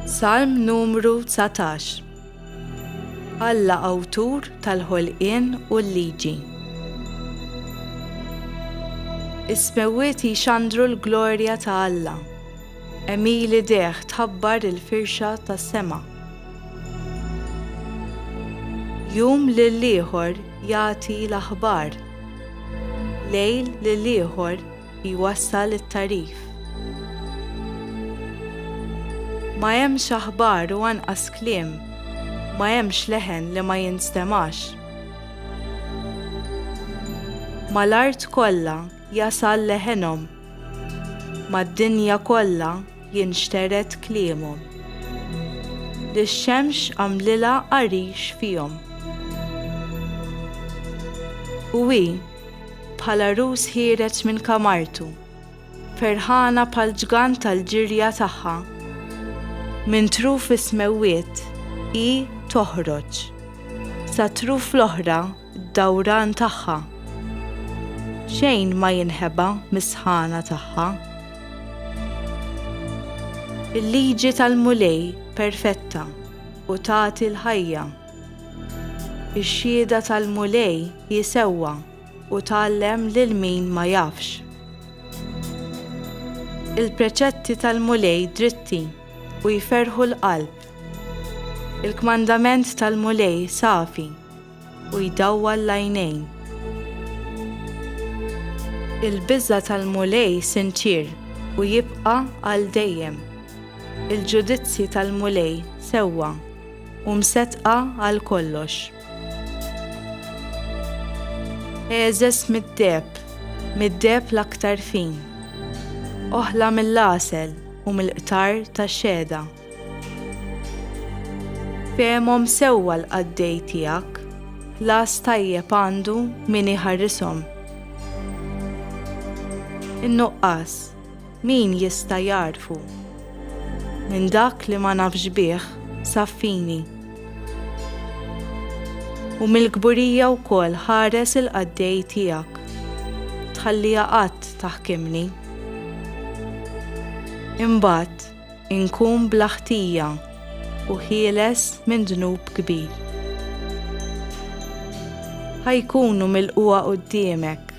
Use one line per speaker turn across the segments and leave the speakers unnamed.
Salm numru 19 Alla awtur tal-ħolqien u l-liġi. Is-smewwiet jixandru l-glorja ta' Alla. Emili deħ tħabbar il-firxa tas-sema. Jum lill-ieħor jagħti l-aħbar. Lejl lill-ieħor jwassal it-tagħrif. Ma hemmx aħbar u anqas kliem, ma hemmx leħen li ma jinstemax. Mal-art kollha jasal leħenhom, mad-dinja kollha jinxtered kliemhom. Li x-xemx għamlilha għarix fihom. U hi, Bħala rus ħiereġ minn kamartu, ferħana bħal ġgant tal-ġirja tagħha. Minn truf is-smewwiet hi toħroġ, sat-truf l-oħra d-dawran tagħha. Xejn ma jinħeba mis-sħana tagħha. Il-liġi tal-Mulej perfetta u tagħti l-ħajja. Ix-xhieda tal-Mulej hi sewwa u tgħallem lil min ma jafx. Il-preċetti tal-Mulej dritti u jferrħu l-qalb. Il-kmandament tal-Mulej safi u jdawwal l-għajnejn. Il-biża' tal-Mulej sinċier u jibqa' għal dejjem. Il-ġudizzji tal-Mulej sewwa. u msettqa għal kollox. Eżes mid-deheb, mid-deheb l-aktar fin, oħla mill-għasel u mill-qtar tax-xehda. Fehmhom sewwa l-qaddej tiegħek, ħlas tajjeb għandu min iħarrishom. In-nuqqas, Min jista' jagħrfu? Minn dak li ma nafx bih saffini. U mill-kburija wkoll ħares il-qaddej tiegħek. Tħalliha qatt taħkimni. Imbagħad inkun bla ħtija u ħieles minn dnub kbir. Ħa jkunu milqugħa quddiemek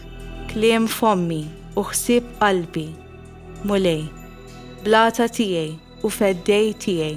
kliem fommi u ħsieb qalbi, Mulej, blata tiegħi u feddej tiegħi.